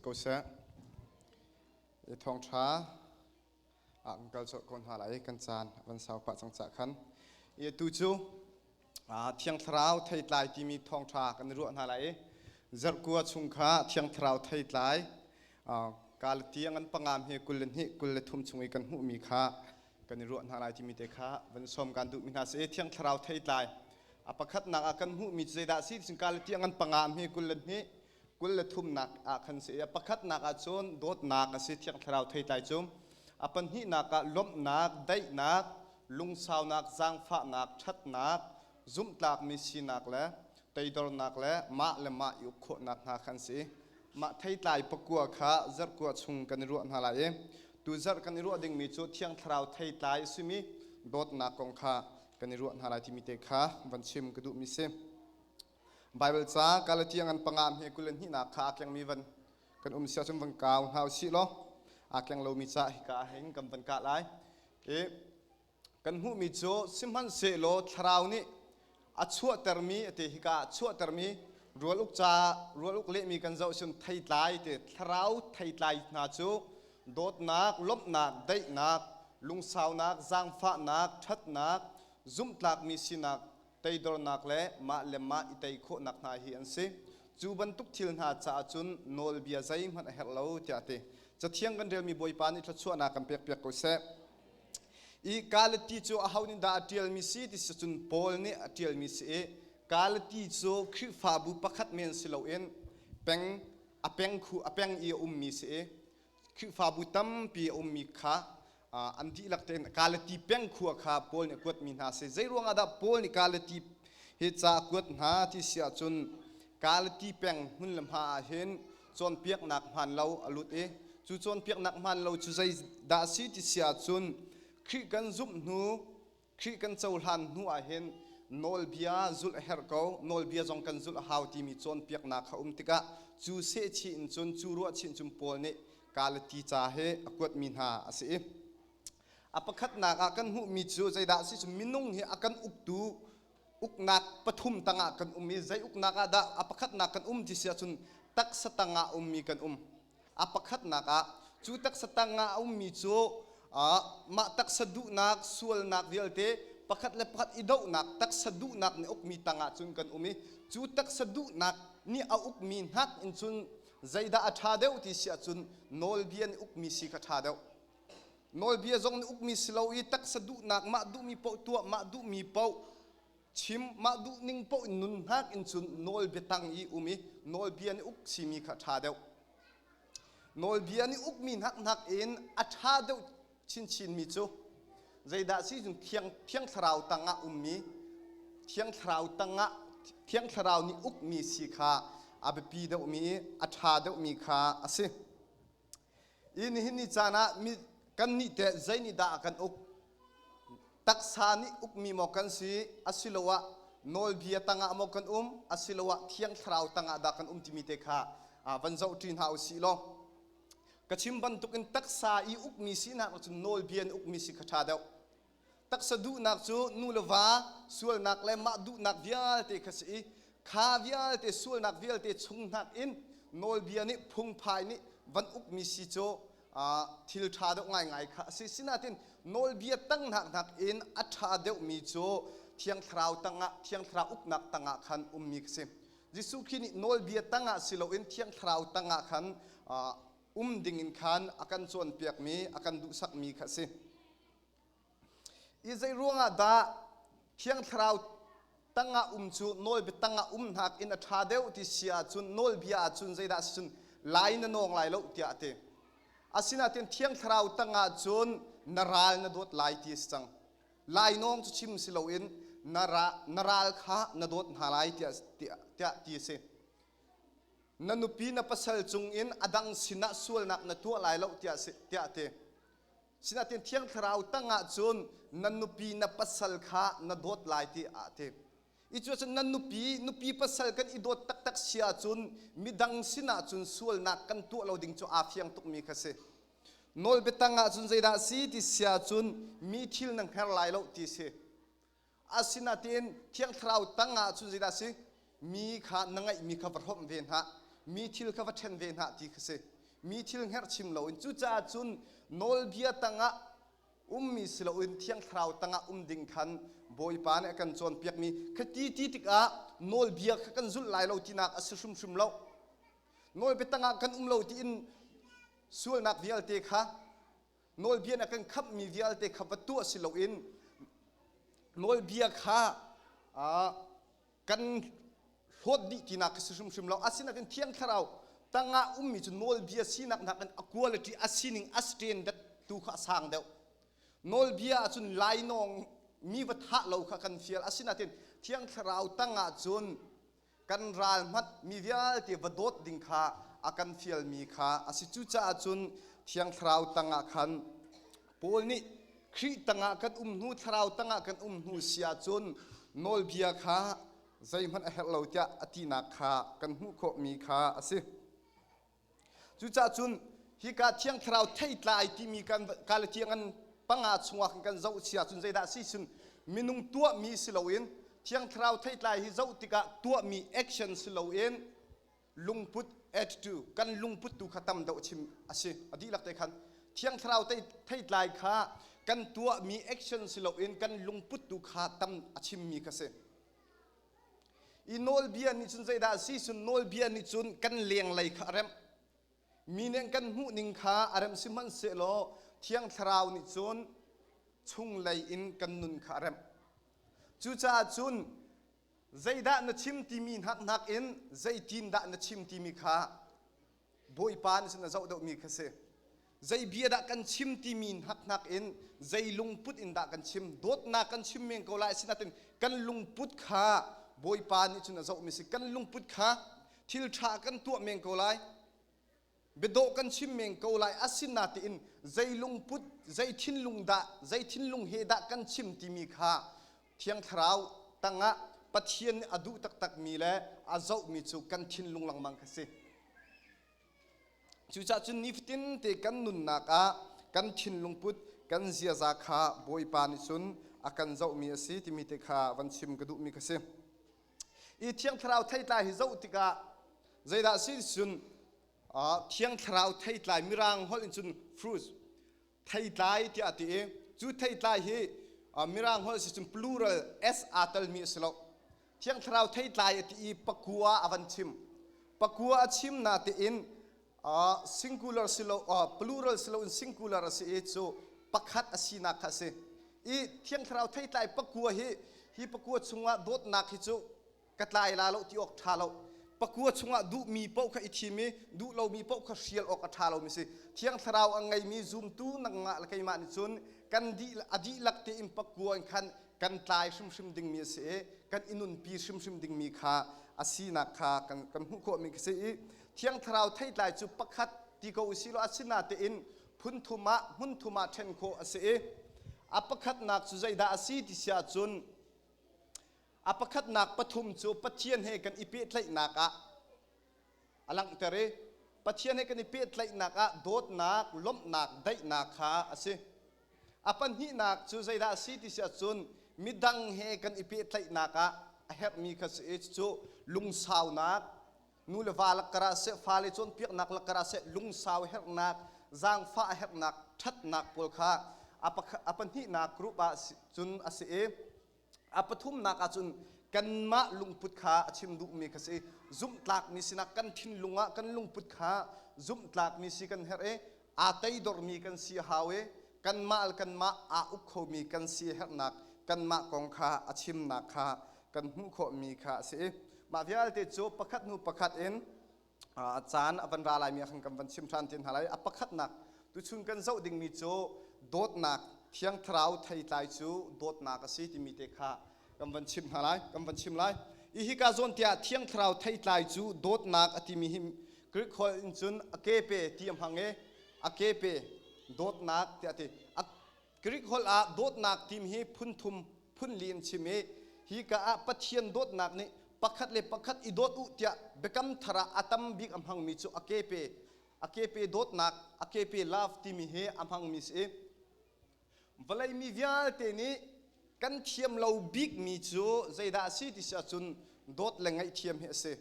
ko seh. I thawngtha ah kan kal colh ko hna lai kan caan van sau pah cang cah khan. I atu cu Thiang Thlarau theitlai timi thawngṭha kan i ruah hna lai i zarhkua chung kha Thiang Thlarau theitlai Galati angan pangam hi kul le hnih kul le thum chung i kan hmuhmi kha kan i ruah hna lai timi te kha van sawm kan duhmi hna si Thiang Thlarau theitlai a pakhatnak ah kan hmuhmi cu zeidah a si ticun Galati angan pangam hi kul le hnih kul le thumnak ah khan si i pakhatnak ah cun dawtnak a si thiang thlarau theitlai cu a pahnihnak ah lawmhnak daihnak lungsaunak zaangfahnak ṭhatnak zumhtlakmi sinak le toidornak le mah le mah i uk khawhnak hna khan si mah theitlai pakua kha zarhkua chung kan i ruah hna lai i tu zarh kan i ruah dingmi cu thiang thlarau theitlai simi dawtnak kong kha kan i ruah hna lai timi te kha van chim ka duhmi si Baibal ca Galatiang an panga hme kul le hnihnak kha aa kengmi van kan um sia cun van kau hna u sih law aa keng lomi ca hika ah hin kan van kah lai. Okay. Kan hmuhmi cu sihmanhsehlaw thlarau nih a chuahtermi ate hika ah chuahtermi rual uk ca rual uk lehmi kan zoh sin theitlai te thlarau theitlai hna cu dawtnak, lawmhnak, daihnak, lungsaunak, zaangfahnak, ṭhatnak, zumhtlakmi sinak teidornak le mah le mah i tei khawhnak hna hi an si. Cu bantuk thil hna caah cun nawlbia zeihmanh a herh lo tiah a ti. Cathiang kan relmi Bawipa nih thluachuahnak kan pekpiak ko seh. I Galati cu aho nih dah a ṭialmi si ti si cun Paul nih a ṭialmi si i Galati cu Khrihfabu pakhat men si loin peng a pengkhu a peng i a ummi si i Khihfabu tampi a ummi kha an dihlak tein Galati peng khua kha Paul nih a kuatmi hna a si. Zei ruangah dah Paul nih Galati hi ca a kuat hna ti si ahcun Galati peng hmun le hma ah hin cawnpiaknak hmaan lo a lut i cu cawnpiaknak hmaan lo cu zeidah a si ti si ahcun Khrih kan zumh hnu Khrih kan cohlan hnu ah hin nawlbia zulh a herh ko. Nawlbia zong kan zulh a hau timi cawnpiaknak a um tikah cu sehchih in cun, cu ruahchih in cun Paul nih Galati ca hi a kuatmi hna a si i a pakhatnak ah kan hmuhmi cu zeidah a si cu minung hi a kan uktu uknak pathum tangah kan um i zei uknak ah dah a pakhatnak kan um ti si ahcun taksa tangah ummi kan um A pakhatnak ah cu taksa tangah a ummi cu mah taksa duhnak sualnak vialte pakhat le pakhat i dohnak taksa duhnak nih ukmi tangah cun kan um i cu taksa duhnak nih a ukmi hnak in cun zeidah a ṭha deuh ti si ahcun nawlbia nih ukmi si kha ṭha deuh nawlbia zong nih ukmi si lo i taksa duhnak mah duhmi paoh tuah mah duhmi paoh chim mah duh ning poh in nun hnak in cun nawl biatang i um i nawlbia nih uk simi kha ṭha deuh nawlbia nih uk mi hnak hnak in a ṭha deuh chinchinmi cu zeidah si cun thiang thiang thlarau tangah ummi thiang thlarau tangah thiang thlarau nih uk mi si kha a biapi deuhmi a ṭha deuhmi kha a si Nihin ni caan ah kannih te zei nih dah a kan uk? Taksa nih ukmi maw kan si asiloah nawlbia tangah maw kan um asiloah thiang thlarau tangah dah kan um timi te kha van zoh ṭi hna u sih law ka chim bantukin taksa i ukmi sinak cun nawlbia in ukmi si kha ṭha deuh. taksa duhnak cu nu le va sualnak le mah duhnak vialte kha si i kha vialte sualnak vialte chung nakin nawlbia nih phungphai nih van ukmi si cu thil ṭha deuh ngaingai kha a si sinain nawlbia tangnak nakin a ṭha deuhmi cu thiang thlarau tangah thiang thlarau uknak tangah khan ummi ka si Jesuh Khrih nih nawlbia tangah si loin thiang thlarau tangah khan um dingin khan a kan cawnpiakmi a kan duhsakmi kha a si I zeiruangah dah Thiang Thlarau tangah um cu nawlbia tangah um hnak in a ṭha deuh ti si ahcun nawlbia ahcun zeidah a si cun lai na nawng lai lo tiah a ti. Asinain Thiang Thlarau tangah cun na ral na dawt lai ti a si cang. Lainawng cu chim si loin na ral kha na dawt hna lai tiah ti a si. Na nupi na pasal cung in a dang sinah sualnak na tuah lai lo tiah a ti. Sinain thiang thlarau tangah cun na nupi na pasal kha na dawt lai ti aa ti. I cu cun na nupi nupi pasal kan i dawt taktak sia cun midang sinah cun sualnak kan tuah lo ding cu aa fiang tukmi kha si. Nawlbiatang ah cun zeidah a si ti sia cun mi thil na hngar lai lo ti si. Asinain thiang thlarau tang ah cun zeidah a si? Mi kha na ngeihmi kha va hrawmh ve hna, mi thil kha va ṭhen ve hna ti khi si. Mi thil hngerhchim loin cucaah cun nawlbia tangah ummi si loin thiang thlarau tangah um ding khan Bawipa nih a kan cawnpiakmi khi ti ti tikah nawlbia kha kan zulh lai lo tinak a si hrimhrim lo. Nawlbia tangah kan um lo tiin sualnak vialte kha nawlbia na kan khamhmi vialte kha va tuah si loin nawlbia kha kan hlawt dih tinak ka si hrimhrim lo asinakin thiang thlarau tangah ummi cu nawlbia sinak hna kan quality a sining a standard tu kha a sang deuh nawlbia ahcun lainawng mi va thah lo kha kan fial asinain thiang thlarau tangah cun kan ral hmat mi vialte va dawt ding kha a kan fial mi kha a si cucaah cun thiang thlarau tangah khan Paul nih Khrih tangah kan um hnu thlarau tangah kan um hnu si ahcun nawlbia kha zeihmanh a herh lo tiah a tinak kha kan hmuh khawh mi kha a si. Cucah cun hika thiang thlarau thei tla ai timi kan kale tiang an panga chungah in kan zoh si ahcun zeidah si cun minung tuahmi si loin thiang thlarau theitlai hi zoh tikah tuahmi action si loin lungput add to kan lungput tu kha tam deuh chim a si a dihlak te khan thiang thlarau theitlai kha kan tuahmi action si loin kan lungput tu kha tam a chimmi ka si i nawlbia nih cun zeidah a si cun nawlbia nih cun kan lenglei kha a remh mi nih kan hmuh ning kha a remh sihmanhsehlaw thiang thlarau nih cun chunglei in kan nun kha a remh cucaah cun zeidah na chim timi hnak in zeitindah na chim timi kha Bawipa nih cun a zoh deuhmi kha si. Zei bia dah kan chim timi hnak in zei lungput in dah kan chim, dawtnak kan chim men ko lai, asinain kan lungput kha Bawipa nih cun a zohmi si. Kan lungput kha thil ṭha kan tuah men ko lai, biadawh kan chim men ko lai, asinain zei lungput, zei thinlung dah, zei thinlung he dah kan chim timi kha Thiang thlarau tangah Pathian nih a duh taktakmi le a zohmi cu kan thinlung lengmang kha si. Cucah cun nifatinte kan nunnak ah kan thinlung put kan ziaza kha Bawipa nih cun a kan zohmi a si timi te kha van chim ka duhmi kha si. I thiang thlarau theitlai hi zoh tikah zeidah si cun thiang thlarau theitlai mirang holh in cun fruit theitlai tiah ti i cu theitlai hi mirang holh si cun plural s aa telmi a si lo thiang thlarau theitlai a ti i pakua a van chim pakua a chim na tiin singular si lo plural si loin singular a si i cu pakhat a sinak kha a si i thiang thlarau theitlai pakua hi hi pakua chungah dawtnak hi cu ka tlai la lo ti awk ṭha lo pakua chungah duhmi paoh kha i thim i duh lomi paoh kha hrial awk a ṭha lomi si thiang thlarau a ngeimi zumtu nangmah le keimah nih cun kan dih a dihlak tein pakua in khan kan tlai hrimhrim dingmi a si i kan i nunpi hrimhrim dingmi kha a sinak kha kan, kan hmuh khawhmi ka si i thiang thlarau theitlai cu pakhat ti ko si law a si natein phun thum ah hmun thum ah ṭhen khawh a si i a pakhatnak cu zeidah a si ti si ahcun A pakhatnak pathum cu Pathian he kan i pehtlaihnak ah a langhter i Pathian he kan i pehtlaihnak ah dawtnak, lawmhnak, daihnak kha a si. A pahnihnak cu zeidah a si ti si ahcun midang he kan i pehtlaihnak ah a herhmi kha si i cucu lungsaunak, nu le va lakkar ah seh, fale cawnpiaknak lakkar ah seh, lungsau herhnak, zaangfah herhnak, ṭhatnak pawl kha a, pakhat, a pahnihnak group ah cun a si i a pathumnak ah cun kanmah lungput kha a chim duhmi kha si zumhtlakmi sinak kan thinlung ah kan lungput kha zumhtlakmi si kan herh i aa teidormi kan si a hau i kanmah le kanmah aa uk khomi kan si a herhnak kanmah kong kha a chimnak kha kan hmuh khawhmi kha a si i mah vialte cu pakhat hnu pakhat in a caan a van ra laimi ahkhan kan van chim ṭhan te hna lai a pakhatnak tuchun kan zoh dingmi cu dawtnak thiang thlarau theitlai cu dawtnak a si timi te kha kan van chim hna lai kan van chim lai i hika zawn tiah thiang thlarau theitlai cu dawtnak a timi hi Greek holh in cun a kepe ti a hmang i a kepe dawtnak tiah ti Greek holh ah dawtnak tim hi phunthum phunli an chim i hi ka ah Pathian dawtnak nih pakhat le pakhat i dawt u tiah biakam thar ah a tam bik a hmangmi cu a kepe a kepe dawtnak a kepe love timi hi a hmangmi si i vawlei mi vialte nih kan thiam lo bikmi cu zeidah a si ti si ahcun dawt le ngaihthiam hi a si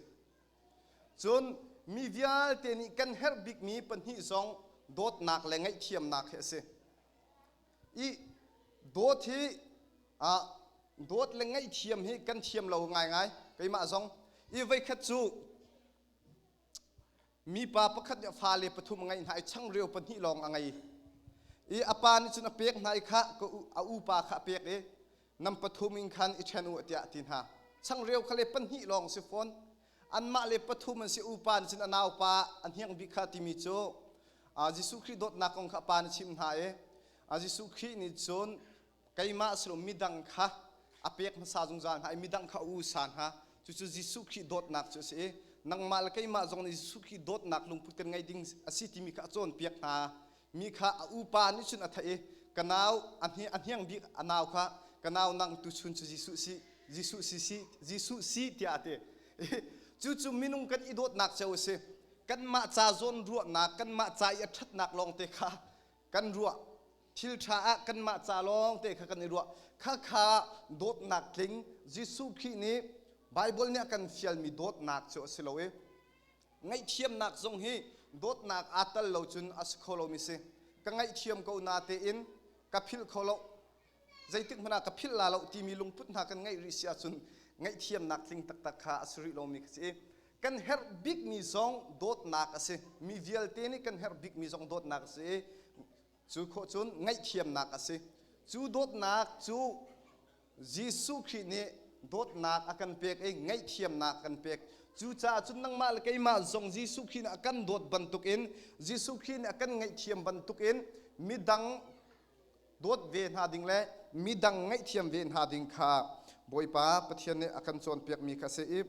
Cun mi vialte nih kan herh bikmi pahnih zong dawtnak le ngaihthiamnak hi a si. I dawt hi ah dawt le ngaihthiam hi kan thiam lo ngaingai keimah zong. I voikhat cu mipa pakhat nih fale pathum a ngeih hna i changreu pahnih lawng a ngei. I a pa nih cun a pek hna i khah ka u, a upa kha a pek i nam pathum in khan i ṭhen u tiah a ti hna. Changreu kha le pahnih lawng si fawn. Anmah le pathum an si upa nih cun a naupa a hniang bik kha timi cu Jesuh Khrih dawtnak kong kha a pa nih chimh hna i Jesuh Khrih nih cun keimah silom midang kha a pek hmasa zungzal hna i midang kha a usa hna cucu Jesuh Khrih dawtnak cu a si i nangmah le keimah zong nih Jesuh Khrih dawtnak lungput kan ngei ding a si timi kha a cawnpiak hna mi kha a upa nih cun a theih i ka nau a hniang bik a nau kha ka nau nang tu chun cu Jesuh si Jesuh si si Jesuh si tiah a ti cucu minung kan i dawtnak cio a si kanmah ca zawn ruahnak kanmah ca i a ṭhatnak lawngte kha kan ruah thil ṭha ah kanmah ca lawngte kha kan i ruah khakha dawtnak tling Jesuh Khrih nih Baibal nih a kan fialmi dawtnak cu a si lo i ngaihthiamnak zong hi dawtnak aa tel lo cun a si kho lomi si ka ngaihthiam ko na tein ka philh kho lo zeitik hmanh ah ka philh la lo timi lungput hna kan ngeih rih si ahcun ngaihthiamnak tling taktak kha a si rih lomi ka si kan herh bikmi zong dawtnak a si mi vialte nih kan herh bikmi zong dawtnak a si Cu khawh cun ngaihthiamnak a si. Cu dawtnak cu Jesuh Khrih nih dawtnak a kan pek i ngaihthiamnak a kan pek. Cucaah cun nangmah le keimah zong Jesuh Khrih nih a kan dawt bantukin Jesuh Khrih nih a kan ngaihthiam bantukin midang dawt ve hna ding le midang ngaihthiam ve hna ding kha Bawipa Pathian nih a kan cawnpiakmi kha a si i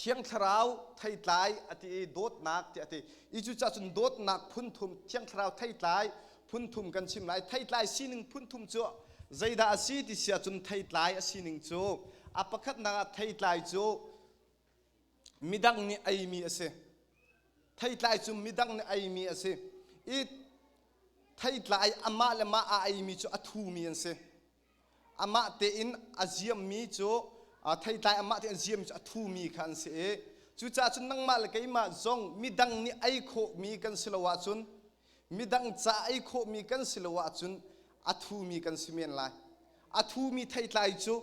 Thiang Thlarau theitlai a ti i dawtnak ti a ti i cu cahcun dawtnak phunthum Thiang Thlarau theitlai phunthum kan chim lai theitlai sining phunthum cu zeidah a si ti sia cun theitlai a sining cu a pakhatnak ah theitlai cu midang nih eimi a si theitlai cu midang nih eimi a si i theitlai amah le mah a eimi cu a thumi an si Amah tein a ziammi cu theitlai amah tein a ziammi cu a thumi kha an si i cucaah cun nangmah le keimah zong midang nih ei khawhmi kan si lo ahcun midang ca ei khawhmi kan si lo ahcun a thumi kan si men lai a thumi theitlai cu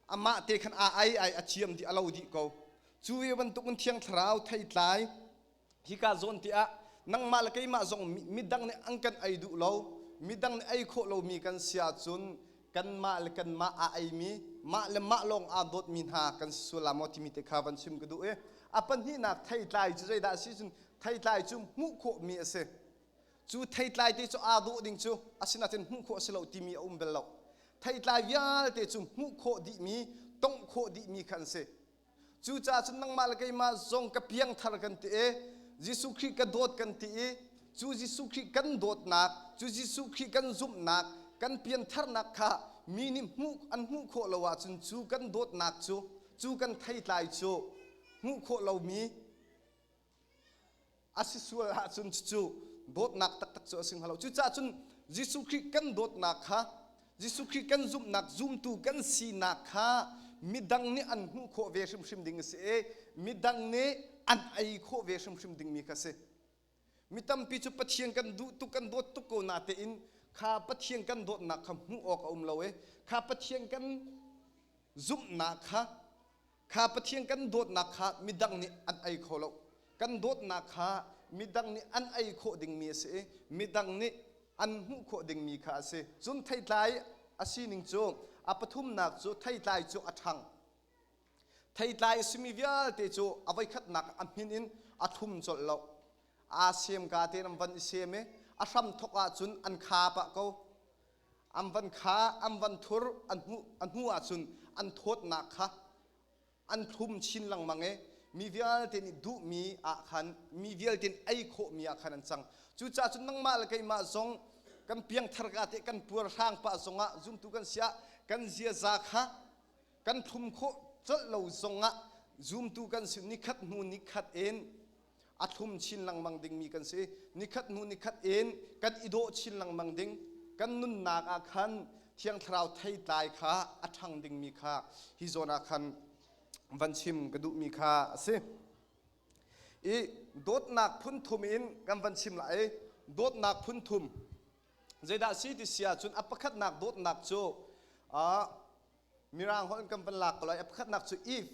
amah te khan a ei ai a ciam dih a lo dih ko cu ve bantukin thiang thlarau theitlai Hika zawn te ah nangmah le keimah zong midang nih an kan ei duh lo, midang nih ei khawh lomi kan si ahcun kanmah le kanmah aa eimi, mah le mah lawng aa dawtmi hna kan si sual la maw timi te kha van chim ka duh i a pahnihnak theitlai cu zeidah a si cun theitlai cu hmuh khawhmi a si. Cu theitlai te cu aa dawh ding cu a sinain hmuh khawh a si lo timi a um bel lo. Theitlai vialte cu hmuh khawh dihmi, tongh khawh dihmi kha an si. Cucaah cun nangmah le keimah zong ka piangthar kan ti i Jesuh Khrih ka dawt kan ti i cu Jesuh Khrih kan dawtnak, cu Jesuh Khrih kan zumhnak, kan piantharnak kha mi nih hmuh an hmuh khawh lo ahcun cu kan dawtnak cu, cu kan theitlai cu hmuh khawh lomi a si sual ahcun cucu dawtnak taktak cu a si hnga lo cucaah cun Jesuh Khrih kan dawtnak kha Jesuh Khrih kan zumhnak zumtu kan sinak kha midang nih an hmuh khawh ve hrimhrim ding a si i midang nih an ei khawh ve hrimhrim dingmi kha si mi tampi cu Pathian kan duh tuk kan dawt tuk ko natein kha Pathian kan dawtnak kha hmuh awk a um lo i kha Pathian kan zumhnak kha kha Pathian kan dawtnak kha midang nih an ei kho lo kan dawtnak kha midang nih an ei khawh dingmi a si i midang nih an hmuh khawh dingmi kha a si cun theitlai a sining cu a pathumnak cu theitlai cu a ṭhang theitlai a simi vialte cu a voikhatnak a hmin in a thlum colh lo aa siam ka te nan van i sem i a hram thawk ahcun an kha pah ko an van kha an van thur an hmuh an hmuh ahcun an thawtnak kha an thlum chin lengmang i mi vialte nih duhmi ah khan mi vialte nih ei khawhmi ah khan an cang cucaah cun nangmah le keimah zong kan piangthar ka teh kan puar hrang pah zongah zumtu kan si ah kan ziaza kha kan thlum khawh colh lo zongah zumtu kan si nikhat hnu nikhat in a thlum chin lengmang dingmi kan si nikhat hnu nikhat in kan i dawh chin lengmang ding kan nunnak ah khan thiang thlarau theitlai kha a ṭhang dingmi kha hi zawn ah khan van chim ka duhmi kha a si i dawtnak phunthum in kan van chim lai dawtnak phunthum zeidah si ti sia cun a pakhatnak dawtnak cu a mirang holh kan van lak ko lai a pakhatnak cu if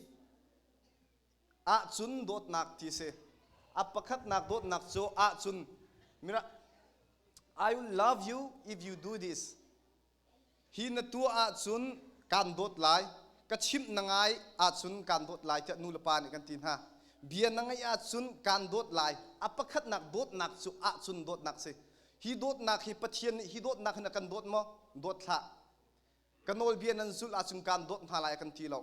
ahcun dawtnak ti a si. A pakhatnak dawtnak cu ahcun I will love you if you do this. Hi na tuah ahcun kaan dawt lai. Ka chimh na ngai ahcun kaan dawt lai tiah nulepa nih kan ti hna. Bia na ngaih ahcun kaan dawt lai. A pakhatnak dawtnak cu ahcun dawtnak si. Hi dawtnak hi Pathian nih hi dawtnak hin a kan dawt maw? Dawt hlah. ka nawlbia nan zulh ahcun kaan dawt hna lai a kan ti lo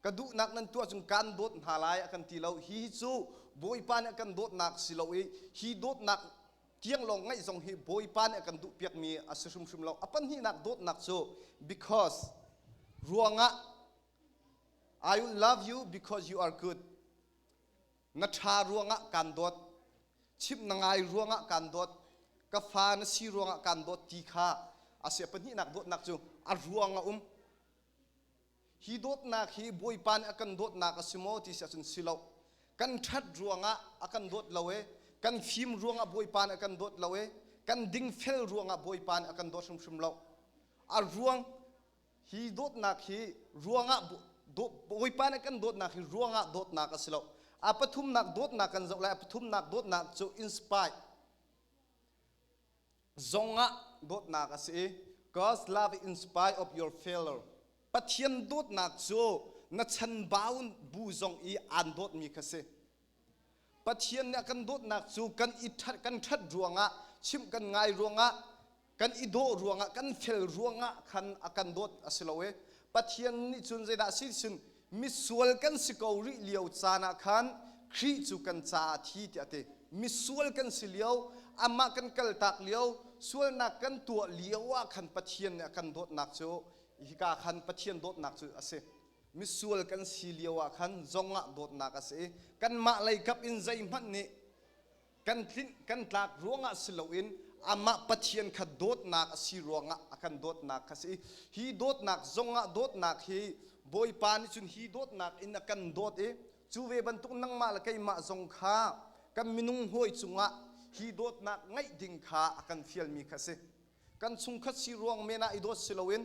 ka duhnak nan tuah ahcun kaan dawt hna lai a kan ti lo hi cu bawipa nih a kan dawtnak si lo i hi dawtnak tiang lawng ngaih zong hi bawipa nih a kan duh piakmi a si hrimhrim lo a pahnihnak dawtnak cu because ruangah I will love you because you are good na ṭha ruangah kaan dawt chimh na ngai ruangah kaan dawt ka fa na si ruangah kaan dawt ti kha a sia pahnihnak dawtnak cu a ruang a um hi dawtnak hi bawipa nih a kan dawtnak a si maw ti si ahcun si lo kan ṭhat ruangah a kan dawt lo e kan fim ruangah bawipa nih a kan dawt lo e kan dingfel ruangah bawipa nih a kan dawt hrimhrim lo a ruang hi dawtnak hi ruangah bawipa nih kan dawtnak hi ruangah dawtnak a si lo a pathumnak dawtnak kan zoh lai a pathumnak dawtnak cu inspire zongah dawtnak a si i God's love inspire of your failure Pathian dawtnak cu na chan bau bu zong i aan dawtmi kha si Pathian nih a kan dawtnak cu kan i ṭhat kan ṭhat ruangah chimh kan ngai ruangah kan i dawh ruangah kan fel ruangah khan a kan dawt a si lo e Pathian nih cun zeidah si sin misual kan si ko rih lio caan ah khan Khrih cu kan caah thi tiah a ti misual kan si lio amah kan kaltak lio sualnak kan tuah lio ah khan Pathian nih a kan dawtnak cu hika khan Pathian dawtnak cu a si misual kan si lio ah khan zong ah dawtnak a si i kanmah leikap in zeihmanh nih kan tlinh kan tlak ruangah si loin amah Pathian kha dawtnak a si ruangah a kan dawtnak kha si i hi dawtnak zongah dawtnak hi Bawipa nih cun hi dawtnak in a kan dawt i cu ve bantuk nangmah le keimah zong kha kan minung hawi cungah hi dawtnak ngeih ding kha a kan fialmi kha si kan chungkhat si ruang men ah i dawt si loin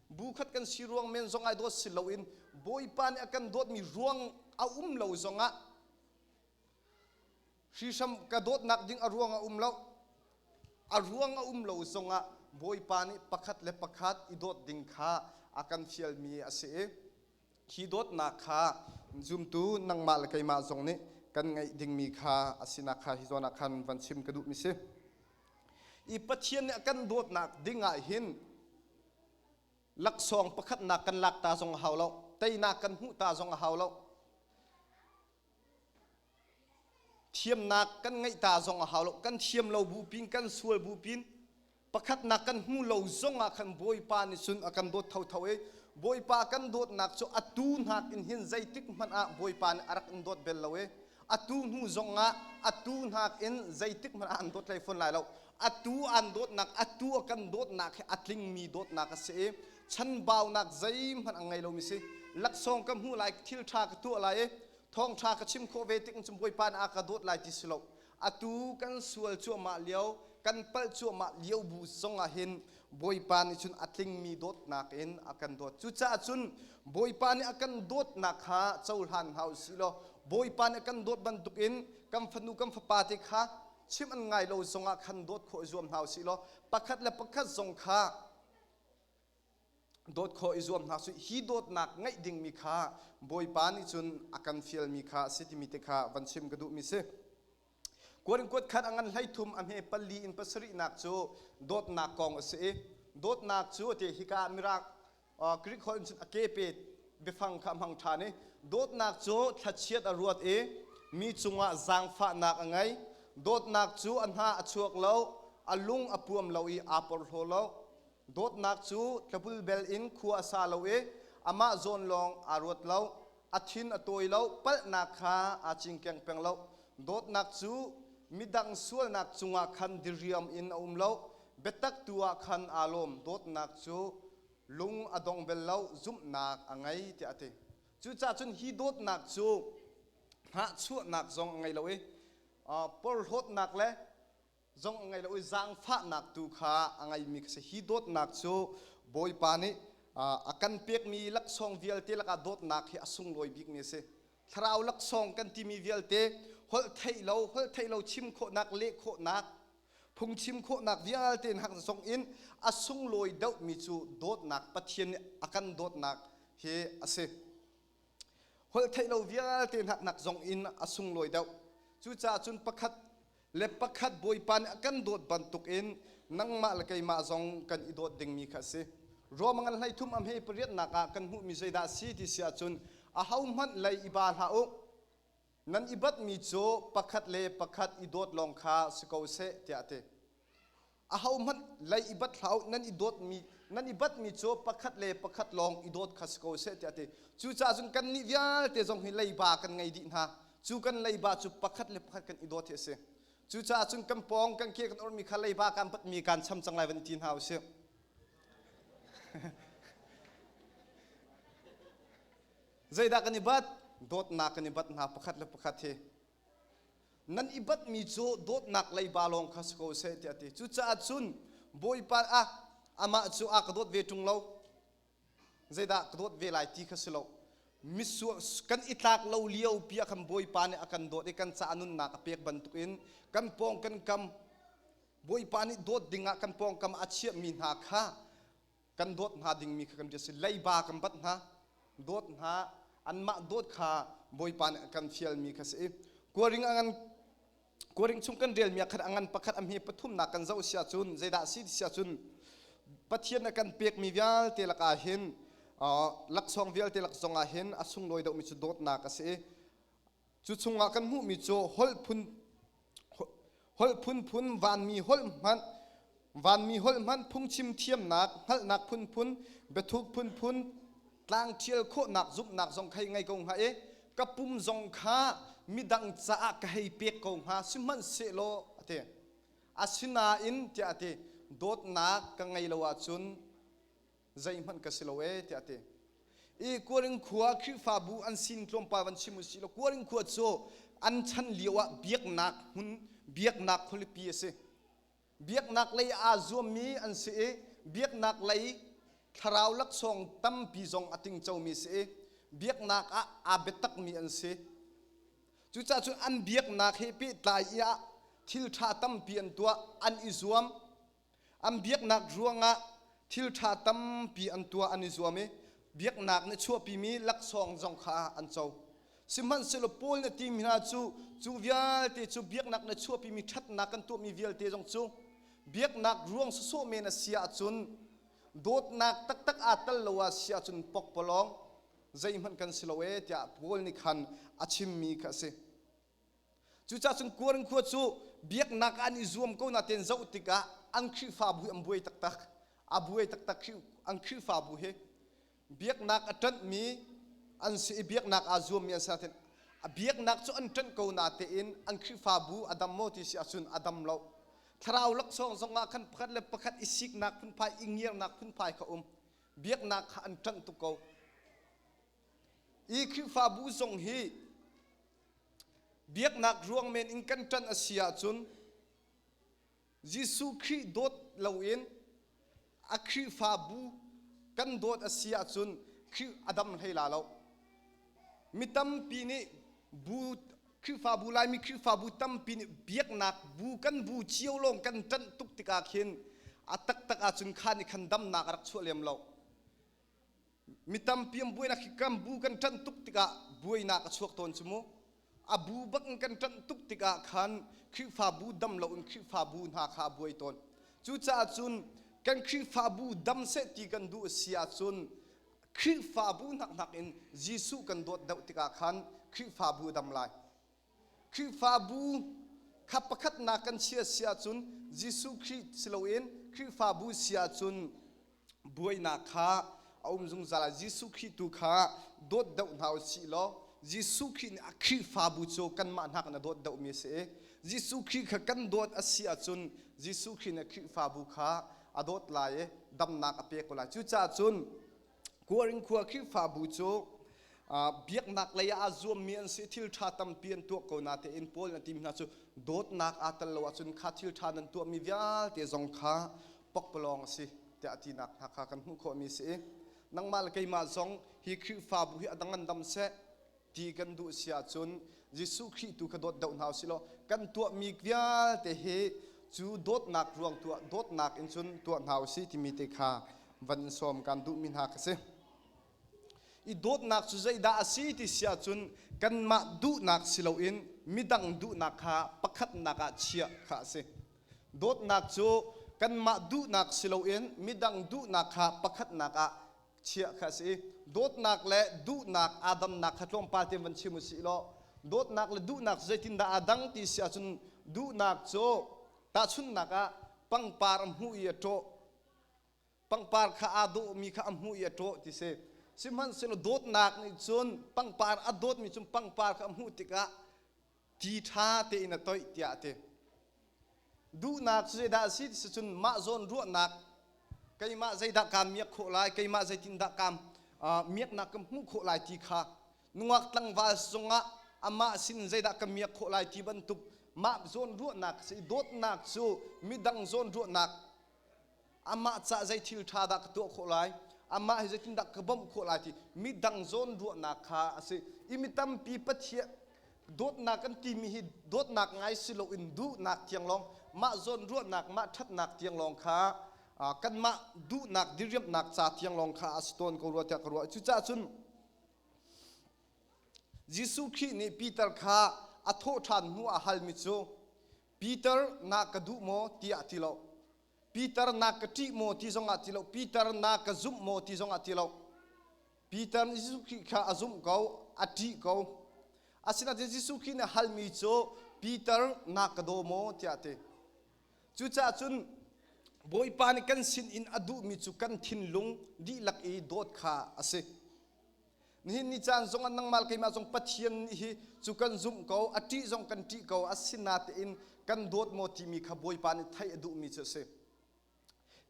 bu khat kan si ruang men zong ah i dawt si loin bawipa nih a kan dawtmi ruang a um lo zong ah hrihram ka dawtnak ding a ruang a um lo a ruang a um lo zong ah bawipa nih pakhat le pakhat i dawt ding kha a kan fialmi a si i Hi dawtnak kha zumtu nangmah le keimah zong nih kan ngeih dingmi kha a sinak kha hi zawn ah khan van chim ka duh mi si. I Pathian nih a kan dawtnak ding ah hin laksawng pakhatnak kan lak ta zong a hau lo, teinak kan hmuh ta zong a hau lo. Thiamnak kan ngeih ta zong a hau lo. Kan thiam lo bu pin, kan sual bu pin, pakhatnak kan hmu lo zong ah khan Bawipa nih cun a kan dawt thotho i Bawipa kan dawtnak cu a tu hnak in hin zeitik hmanh ah Bawipa nih a rak in dawt bel lo i a tu hnu zong ah a tu hnak in zeitik hmanh ah an dawt hlei fawn lai lo. A tu an dawtnak, a tu a kan dawtnak hi a tlingmi dawtnak a si i chanbaunak zeihmanh a ngei lomi si laksawng ka hmuh lai thil ṭha ka tuah lai i thawngṭha ka chim khawh ve tik in cun bawipa nih a ka dawt lai ti si lo atu kan sual cuahmah lio kan palh cuahmah lio bu zong ah hin bawipa nih cun a tlingmi dawtnak in a kan dawt cucaah cun bawipa nih a kan dawtnak kha cohlan hna u si law bawipa nih a kan dawt bantuk in kan fanu kan fapa te kha chim an ngai lo zong ah khan dawt khawh i zuam hna u si law pakhat le pakhat zong kha dawt khawh i zuam hna su hi dawtnak ngeih dingmi kha bawipa nih cun a kan fialmi kha a si timi te kha van chim ka duhmi si kuan kuat khat a ngan hlei thum a hme pali in pasarihnak cu dawtnak kong a si i dawtnak cu te hika ah mirang Greek holh in cun a kepe biafang kha a hmang ṭhan i dawtnak cu thlachiat a ruat i mi cungah zaangfahnak a ngei. Dawtnak cu a hna a chuak lo, a lung a puam lo i aa porhlaw lo. Dawtnak cu tlabul bel in khua a sa lo i amah zawn lawng aa ruat lo. A thin a tawi lo, palhnak kha aa cingkeng peng lo. Dawtnak cu midang sualnak cungah khan diriam in a um lo, biatak tu ah khan aa lawm. Dawtnak cu lung a dong bel lo zumhnak a ngei tiah a ti cucaah cun hi dawtnak cu hnahchuahnak zong a ngei lo i porhlawtnak le zong a ngei lo i zaangfahnak tu kha a ngeimi ka si hi dawtnak cu bawipa nih a kan pekmi laksawng vialte lakah dawtnak hi a sunglawi bikmi a si thlarau laksawng kan timi vialte holh theih lo holh theih lo chim khawhnak leh khawhnak phungchim khawhnak vialte hak zong in a sunglawi dohmi cu dawtnak Pathian nih a kan dawtnak hi a si holh theih lo vialte hnak zong in a sunglawi deuh cucaah cun pakhat le pakhat Bawipa nih a kan dawt bantukin nangmah le keimah zong kan i dawt dingmi kha a si. Ruamngan hleithum a hme pariatnak ah kan hmuhmi zeidah a si ti si ahcun ahohmanh lei i ba hlah u, nan i batmi cu pakhat le pakhat i dawt lawng kha si ko seh, tiah a ti. ahohmanh lei i bat hlah nan i dawtmi nan i batmi cu pakhat le pakhat lawng i dawt kha si ko seh tiah ti cucaah cun kannih vialte zong hi leiba kan ngei dih hna cu kan leiba cu pakhat le pakhat kan i dawt hi a si cucaah cun kan pawng kan ke kan ormi kha leiba kan batmi kan cham cang lai van i ti hna u sih zeidah kan i bat dawtnak kan i bat hna pakhat le pakhat hi nan i batmi cu dawtnak leiba lawng kha si ko seh tiah a ti cucaah cun bawipa ah amah cu a ka dawt ve ṭung lo zeidah ka dawt ve lai ti kha si lo mitsur kan i tlak lo lio pi ah khan bawipa nih a kan dawt i kan caah nunnak a pek bantukin kan pawng kan kam bawipa nih dawt dingah kan pawngkam a chiahmi hna kha kan dawt hna dingmi kha kan biak si leiba kan bat hna dawt hna anmah dawt kha bawipa nih kan fialmi kha si kuaring a ngan kuaring chung kan relmi khat a ngan pakhat a hme pathumnak kan zoh sia cun zeidah si sia cun pathian a kan pekmi vialte lakah hin laksawng vialte laksawng ah hin a sunglawi deuhmi cu dawtnak a si Cu chungah kan hmuhmi cu holh phun holh phunphun vanmi holh hmanh vanmi holh hmanh phungchim thiamnak hngalhnak phunphun biathuk phunphun tlang ṭhial khawhnak zumhnak zong kha ngei ko hnga i ka pum zong kha midang caah ka hei pek ko hnga sihmanhsehlaw a ti asinain tiah a ti dawtnak ka ngei lo ahcun zeihmanh ka si lo e tiah a ti i kuaring khua khrihfabu an sin tlawmpal van chim usih law kuaring khua cu an chan lio ah biaknak hmun biaknak khualipi a si biaknak lei aa zuammi an si i biaknak lei thlarau laksawng tampi zong a tingcomi si i biaknak ah aa biatakmi an si cucaah cun an biaknak he pehtlai i ah thil ṭha tampi an tuah an i zuam An biaknak ruangah thilṭha tampi an tuah an i zuam i biaknak nih a chuahpimi laksawng zong kha an co. Sihmanhsehlaw Paul nih a timi hna cu cu vialte cu biaknak nih a chuahpimi ṭhatnak kan tuahmi vialte zong cu biaknak ruang sawsawh men a si ahcun dawtnak taktak aa tel lo ah si ahcun pokpalawng zeihmanh kan si lo ee tiah Paul nih khan a chimmi kha a si. Cucacun Korin khua cu biaknak ah an i zuam ko natein zoh tikah an Khrihfabu hi an buai taktak. A buai taktak an Khrihfabu hi biaknak a ṭanhmi an si i biaknak aa zuammi an si natein a biaknak cu an ṭanh ko natein an Khrihfabu a dam maw ti si ahcun a dam lo. Thlarau laksawng zongah khan pakhat le pakhat i siknak phunphai i ngiarnak phunphai kha um. Biaknak kha an ṭanh tuk ko. Hi Khrihfabu zong hi biaknak ruang men in kan ṭan a si ahcun Jesuh Khrih dawt loin a Khrihfabu kan dawt a si ahcun Khrih a dam hlei la lo. Mi tampi nih bu Khrihfabu Laimi Khrihfabu tampi nih biaknak bu kan bu cio lawng kan ṭanh tuk tikah khin a taktak ahcun khan i khan damnak a rak chuah lem lo. Mi tampi an buainak hi kan bu kan ṭanh tuk tikah buainak a chuak tawn cu mu. A bu bak in kan ṭanh tuk tikah khan Khrihfabu dam loin Khrihfabu hna kha a buai tawn. Cucaah cun kan Khrihfabu dam seh ti kan duh a si ahcun Khrihfabu hnak in Jesuh kan dawt deuh tikah khan Khrihfabu a dam lai. Khrihfabu kha pakhatnak kan chia si ahcun Jesuh Khrih si loin Khrihfabu si ahcun buainak kha a um zungzal ah Jesuh Khrih tu kha dawt doh hna u sih law Jesuh Khrih nih a Khrihfabu cu kanmah hnak in a dawt dohmi a si i Jesuh Khrih kha kan dawt a si ahcun Jesuh Khrih nih a Khrihfabu kha a dawt lai i damnak a pe ko lai. Cucaah cun Kuarin khua Khrihfabu cu biaknak lei ah a zuammi an si thil ṭha tampi an tuah ko natein Paul nih a timi hna cu dawtnak aa tel lo ahcun kha thil ṭha nan tuahmi vialte zong kha pakpalawng a si tiah a tinak hna kha kan hmuh khawhmi a si i nangmah le keimah zong hi Khrihfabu hi a dang an dam seh ti kan duh si ahcun Jesuh Khrih tu kha dawt deuh hna usihlaw kan tuahmi vialte hi cu dawtnak ruang tuah dawtnak in cun tuah hna usih timi te kha van in sawm kan duhmi hna ka si i dawtnak cu zeidah a si ti si ahcun kanmah duhnak si loin midang duhnak kha pakhatnak ah chiah kha a si dawtnak cu kanmah duhnak si loin midang duhnak kha pakhatnak ah chiah kha a si i dawtnak le duhnak aa damnak kha tlawmpal te van chim u sih law dawtnak le duhnak zeitindah aa dang ti si ahcun duhnak cu tahchunhnak ah pangpar a hmuh i a ṭawh pangpar kha aa dawhmi kha a hmuh i a ṭawh ti si sihmanhsehlaw dawtnak nih cun pangpar a dawtmi cu pangpar kha a hmuh tikah ti ṭha tein a toih tiah a ti. Duhnak cu zeidah a si ti cun mah zawnruahnak keimah zeidah kaan miak khawh lai, keimah zeitindah kaan miaknak ka hmuh khawh lai ti kha nungak tlangval cungah amah sin zeidah ka miak khawh lai ti bantuk mah zawnruahnak cu dawtnak cu midang zawnruahnak amah cah zei thil ṭha dah ka tuah khawh lai amah hi zeitindah ka bawmh khawh lai ti midang zawn ruahnak kha a si i mi tampi pathian dawtnak kan timi hi dawtnak ngai si loin duhnak tiang lawng mah zawn ruahnak mah ṭhatnak tiang lawng kha kanmah duhnak diriamhnak ca tiang lawng kha a si tawn ko rua tiah ka ruah cucaah cun Jesuh Khrih nih Peter kha a thawh ṭhan hnu a halmi cu Peter na ka duh maw tiah ti lo Peter na ka ṭih maw ti zongah ti lo, Peter na ka zumh maw ti zongah ti lo. Peter nih Jesuh Khrih kha a zumh ko, a ṭih ko. Asinain Jesuh Khrih nih a halmi cu Peter na ka daw maw tiah a ti. Cucaah cun Bawipa nih kan sinin a duhmi cu kan thinlung dihlak i dawt kha a si. Nihin ni caan zong ah nangmah keimah zong Pathian nih hi cu kan zumh ko, a ṭih zong kan ṭih ko, a sinatein kan dawt maw timi kha Bawipa nih theih a duhmi cu a si.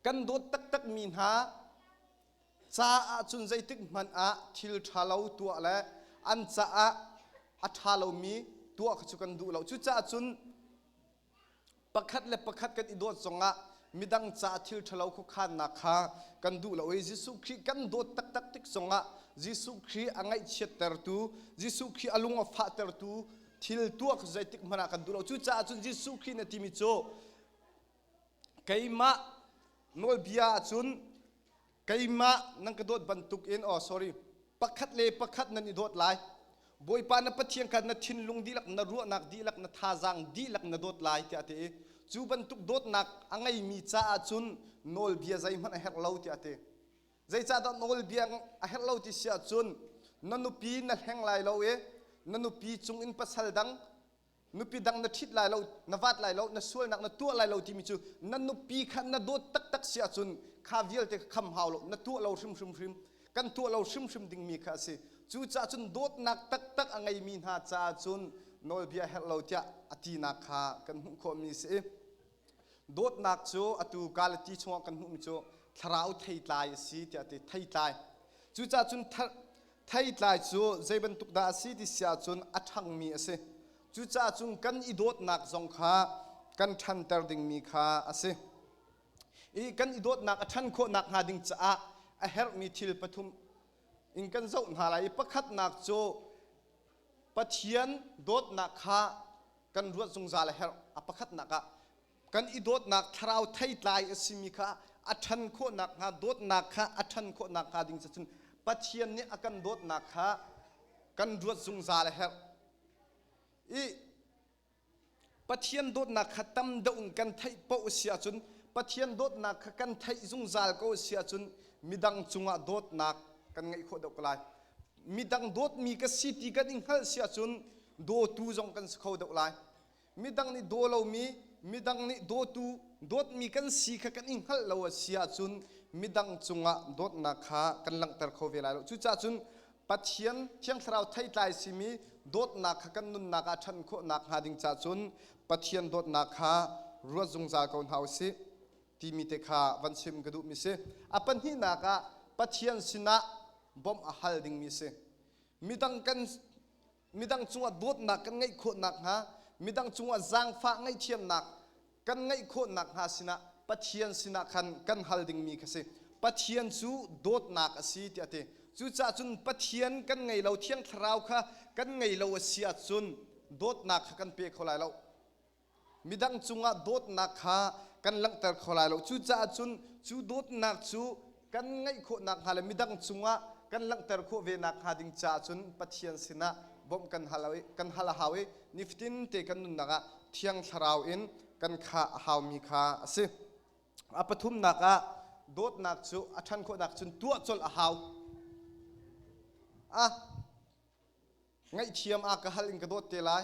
Kan dawt taktakmi hna caah cun zeitik hmanh ah thil ṭha lo tuah le an caah a ṭha lomi tuah kha cu kan duh lo. Cucaah cun pakhat le pakhat kan i dawt zongah midang caah thil ṭhalo khuakhannak kha kan duh lo i Jesuh Khrih kan dawt taktak tik zongah Jesuh Khrih a ngaihchiattertu Jesuh Khrih a lung a fahtertu thil tuak zeitik hmanh ah kan duh lo cucaah cun Jesuh Khrih na timi cu keimah nawlbia ahcun keimah nan ka dawt bantukin oh sorry pakhat le pakhat nan i dawt lai bawipa na pathian kha na thinlung dihlak na ruahnak dihlak na thazaang dihlak na dawt lai tiah ti i cu bantuk dawtnak a ngeimi caah cun nawlbia zeihmanh a herh lo tiah ti zeicahdah nawlbia a herh lo ti si ahcun na nupi na hleng lai lo i na nupi cungin pasal dang nupi dang na ṭhit lai lo na vat lai lo na sualnak na tuah lai lo timi cu na nupi kha na dawt taktak si ahcun kha vialte kha kham hau lo na tuah lo hrimhrim hrim kan tuah lo hrimhrim dingmi kha a si cucaah cun dawtnak taktak a ngeimi hna caah cun nawlbia herh lo tiah a tinak kha kan hmuh khawhmi a si Dawtnak cu atu Galati chungah kan hmuhmi cu thlarau theitlai a si tiah ti theitlai. Cucaah cun theitlai cu zei bantuk dah a si ti si ahcun a ṭhangmi a si. Cucaah cun kan i dawtnak zong kha kan ṭhanter dingmi kha a si. I kan i dawtnak a ṭhan khawh nakhnga ding caah a herhmi thil pathum in kan zoh hna lai i pakhatnak cu Pathian dawtnak kha kan ruat zungzal a herh. A pakhatnak ah kan i dawtnak thlarau theitlai a simi kha a ṭhan khawh nakhnga dawtnak kha a ṭhan khawh nakhnga ding cu cun Pathian nih a kan dawtnak kha kan ruat zungzal a herh. I Pathian dawtnak kha tam deuh in kan theih paoh a si ahcun Pathian dawtnak kha kan theih zungzal ko a si ahcun midang cungah dawtnak kan ngeih khawh deuh ko lai. Midang dawtmi ka si ti kan i hngalh si ahcun dawtu zong kan si kho deuh lai. Midang nih daw lomi, midang nih dawtu, dawtmi kan si kha kan i hngalh lo a si ahcun midang cungah dawtnak kha kan langhter kho ve lai lo. Cucaah cun Pathian thiang thlarau theitlai simi dawtnak kha kan nunnak ah ṭhan khawhnak hnga ding ca cun Pathian dawtnak kha ruat zungzal ko hna u sih timi te kha van chim ka duhmi si. A pahnihnak ah Pathian sinah bawmh a hal dingmi si. Midang kan midang cungah dawtnak kan ngeih khawh nakhnga, midang cungah zaangfah ngaihthiamnak kan ngeih khawh nakhnga sinah Pathian sinah khan kan hal dingmi kha si. Pathian cu dawtnak a si tiah a ti. Cucaah cun Pathian kan ngei lo, Thiang Thlarau kha kan ngei lo a si ahcun dawtnak kha kan pe kho lai lo. midang cungah dawtnak kha kan langhter kho lai lo cucaah cun cu dawtnak cu kan ngeih khawh nakhnga le midang cungah kan langhter khawh ve nakhnga ding caah cun Pathian sinah bawmh kan hal kan hal a hau i nifatin te kan nunnak ah thiang thlarau in kan khah a haumi kha a si a pathumnak ah dawtnak cu a ṭhan khawhnak cun tuah colh a hau a ngaihthiam ah ka hal in ka dawt te lai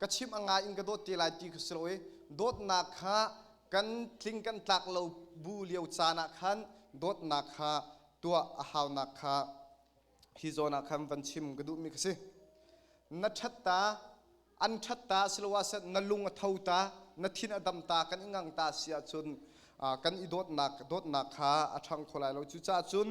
ka chim a ngai in ka dawt te lai ti kha si lo i dawtnak kha kan tling kan tlak lo bu lio caan ah khan dawtnak kha tuah a haunak kha hi zawn ah khan van chim ka duhmi ka si na ṭhatta an ṭhat ta siloah na lung a tho ta na thin a dam ta kan i ngang ta si ahcun kan i dawtnak dawtnak kha a ṭhang kho lai lo cucaah cun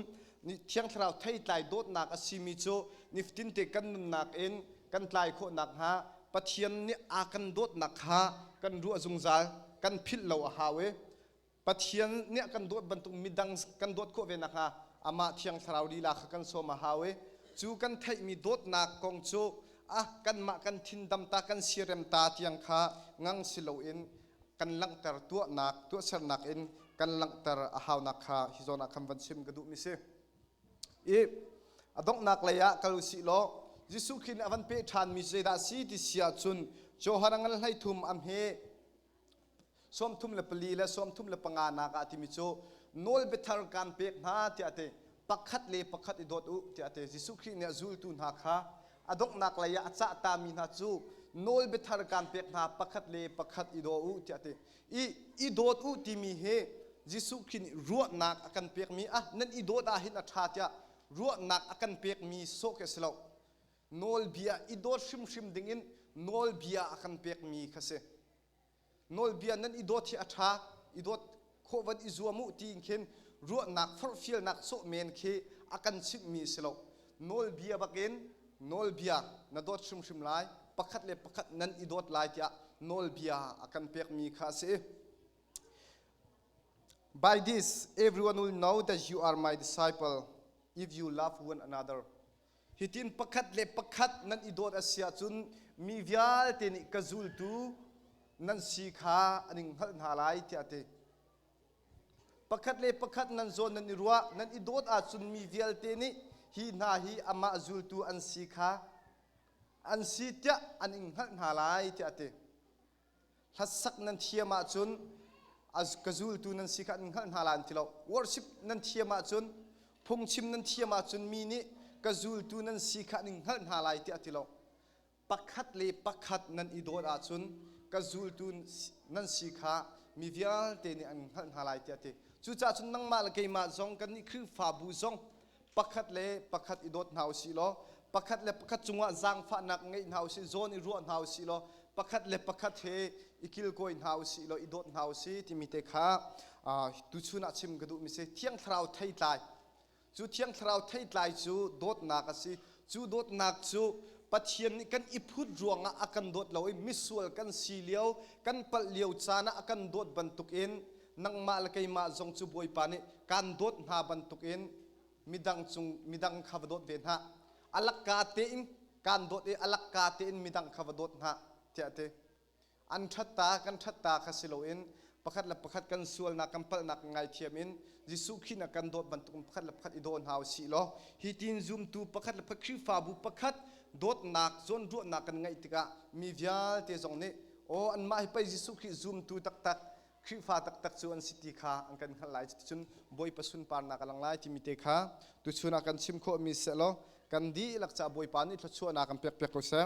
thiang thlarau thei tlai dawtnak a simi cu nifatinte kan nunnak in kan tlai khawh nakhnga pathian nih a kan dawtnak kha kan ruah zungzal kan philh lo a hau i Pathian nih a kan dawt bantuk midang kan dawt khawh ve nakhnga amah thiang thlarau lila kha kan sawm a hau i cu kan theihmi dawtnak kong cu a kanmah kan thin-dam ta kan siarem ta tiang kha ngang si loin kan langhter tuahnak tuahsernak in kan langhter a haunak kha hi zawn ah khan van chim ka duhmi si i a donghnak lei ah kal sih law Jesuh Khrih nih a van peh ṭhanmi cu zeidah a si ti si ahcun Johan a ngan hleithum am hi sawmthum le pali le sawmthum le panga nak ah timi cu nawlbiathar kaan pek hna tiah te pakhat le pakhat i dawt u tiah te Jesuh Khrih nih a zultu hna kha a donghnak lei ah a cah ta mi hna cu nawlbiathar kaan pek hna pakhat le pakhat i daw u tiah te i i dawt u timi hi Jesuh Khrih nih ruahnak a kan pek mi ah nan i dawt ah hin a ṭha tiah ruahnak a kan pek mi sawh khi a si lo nawlbia i dawt hrimhrim dingin nawlbia a kan pekmi kha si nawlbia nan i dawt hi a ṭha i dawt khawhvan i zuam u ti khin ruahnak forhfialnak sawh men khi a kan chimhmi si lo nawlbia bakin nawlbia na dawt hrimhrim lai pakhat le pakhat nan i dawt lai tiah nawlbia a kan pekmi kha a si By this, everyone will know that you are my disciple if you love one another. Hitin pakhat le pakhat nan i dawt a si ahcun mi vialte nih ka zultu nan si kha an in hngalh hna lai tiah a ti. Pakhat le pakhat nan zawn nan i ruah, nan i dawt ahcun mi vialte nih hi hna hi amah zultu an si kha an si tiah an in hngalh hna lai tiah a ti. Hlasak nan thiam ahcun ka zultu nan si kha an hngalh hna la an ti lo. Worship nan thiam ahcun phungchim nan thiam ahcun mi nih ka zultu nan si kha an hngalh hna lai tiah ti lo. Pakhat le pakhat nan i dawt ahcun ka zultu nan si kha mi vialte nih an hngalh hna lai tiah ti. Cucahcun nangmah le keimah zong kan nih Khrihfabu zong pakhat le pakhat i dawt hna u sih law pakhat le pakhat cungah zaangfahnak ngeih hna u sih zawn i ruah hna u sih law pakhat le pakhat he i kilkawi hna u sih law i dawt hna u sih timi te kha tuchun ah chim ka duhmi si thiang thlarau thei tlai cu thiang thlarau thei tlai cu dawtnak a si cu dawtnak cu pathian nih kan i phut ruangah a kan dawt lo i misual kan si lio kan palh lio caan ah a kan dawt bantukin nangmah le keimah zong cu Bawipa nih kan dawt hna bantukin midang cung midang kha va dawt ve hna alakka tein kan dawt i alakka tein midang kha va dawt hna tiah ti an ṭhatta kan ṭhatta kha si loin pakhat le pakhat kan sualnak kan palhnak ngaithiam in Jesuh khin a kan dawt bantukin pakhat le pakhat i daw hna si law hi tin zumtu pakhat le pakhat Khrihfabu pakhat dawtnak zawnruahnak kan ngeih tikah mi vialte zong nih aw anmah hi pei Jesuh Khrih zumtu taktak Khrihfa taktak cu an si ti kha an kan hngalh lai. Cuticun Bawipa sunparnak a lang lai timi te kha tuchun ah kan chim khawhmi sehlaw kan dihlak caah Bawipa nih thluachuahnak an pekpiak ko seh.